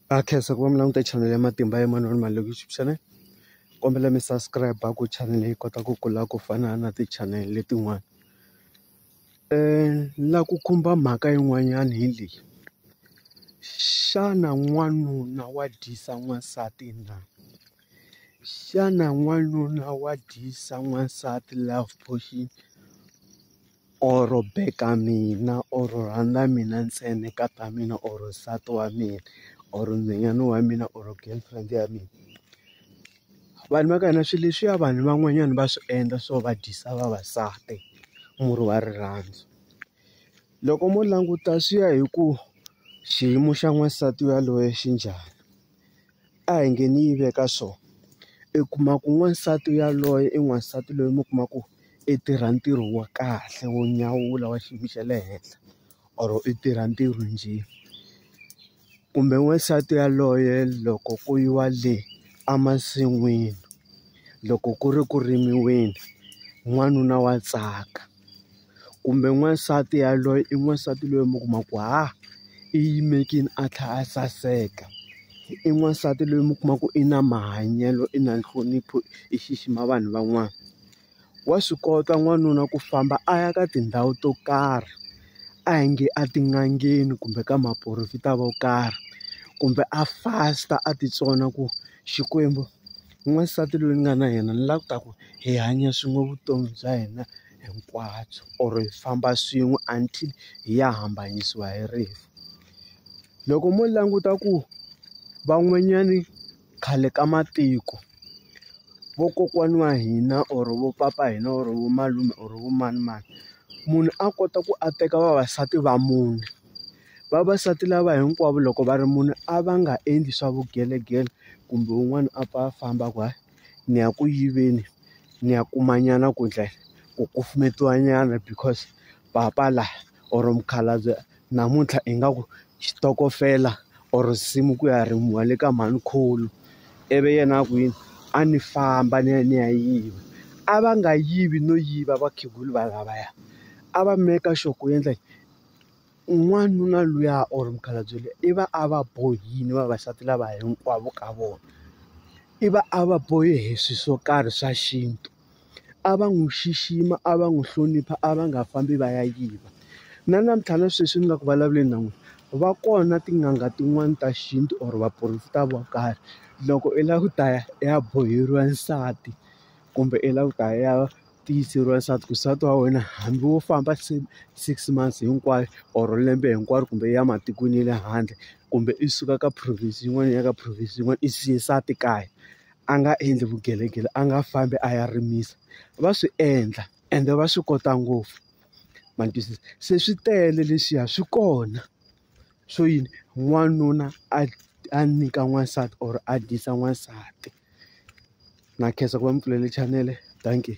Ha khensa ku va mi languta chanele ya matimba ya manana mali loko YouTube channel kombela mi subscribe ku chanele yi kota ku kula ku fana na ti channel letin'wana la ku khumba mhaka yin'wanyana hi leyi xana n'wanuna wa dyisa n'wansati na xana n'wanuna wa dyisa n'wansati love potion. or beka mina or rhandza mina ntsena ka ta mina or nsati wa mina or nhwanyana wa mina or girlfriend ya mina vanhu va ka hina swilo leswiya vanhu van'wanyana va swi endla swo va dyisa vavasati murhi wa rirhandzu loko mo languta swi ya hi ku xiyimo xa n'wansati yaloye xi njhani. a hi nge ni yi veka so i kuma ku n'wansati yaloye i n'wansati loyi mi kuma ku i tirha ntirho wa kahle wo nyawula wa xiyimo xa le henhla or i tirha ntirho njhe kumbe n'wansati yaloye loko ku yiwa le emasin'wini loko ku ri ku rimiweni n'wanuna wa tsaka. kumbe n'wansati yaloye i n'wansati loyi mi kuma ku ha i yimekini a tlhela a saseka i n'wansati loyi mi kuma ku i na mahanyelo i na nhlonipho i xixima vanhu van'wana wa swi kota n'wanuna ku famba a ya ka tindhawu to karhi a hi nge a tin'angeni kumbe ka maporofeta vo karhi kumbe a fasta a titsona ku Xikwembu. n'wansati loyi ni nga na yena ni lava ku ta ku hi hanya swin'we vutomi bya hina hinkwabyo or hi famba swin'we until hi ya hambanyisiwa hi rifu loko mo languta ku van'wanyani khale ka matiko vokokwani wa hina or vo papa hina or vo malume or vo manimani munhu a kota ku a teka vavasati va mune. Vavasati lava hinkwavo loko va ri mune a va nga endli swa vugelegele kumbe wun'wani a pfa a famba ku hayi ni ya ku yiveni ni ya kuma nyana ku ndlela ku kufumetiwa nyana because papa la or mukhalabye namuntlha ingaku xitokofela or nsimu ku ya rimiwa le ka mhanikhulu ivi yena a ku yini a ni famba ni ya ni ya yiva a va nga yivi no yiva vakhegula va lavaya a va maker sure ku endla yini. N'wanuna luya or mukhalabye luya i va a va bohile vavasati lava hinkwavo ka vona. I va a va bohe hi swilo swo karhi swa xintu. A va n'wi xixima, a va n'wi hlonipha, a va nga fambi va ya yiva. Na namuntlha na sweswi ni nga ku vulavuleni na n'wina, va kona tin'anga tin'wani ta xintu or vaporofeta vo karhi, loko i lava ku ta ya i ya boheriwa nsati kumbe i lava ku ta ya. tiyiseriwa leswaku nsati wa wena hambi wo famba six months hinkwayo or lembe hinkwaro kumbe ya ematikweni ya le handle kumbe i suka ka province yin'wana ya ka province yin'wana i siye nsati kaya a nga endli vugelegele a nga fambi a ya rimisa va swi endla ende va swi kota ngopfu ma twisisa se swi tele leswiya swi kona swo yini n'wanuna a a nyika n'wansati or a dyisa n'wansati. Na khensa ku va ni pfulele chanele dankie.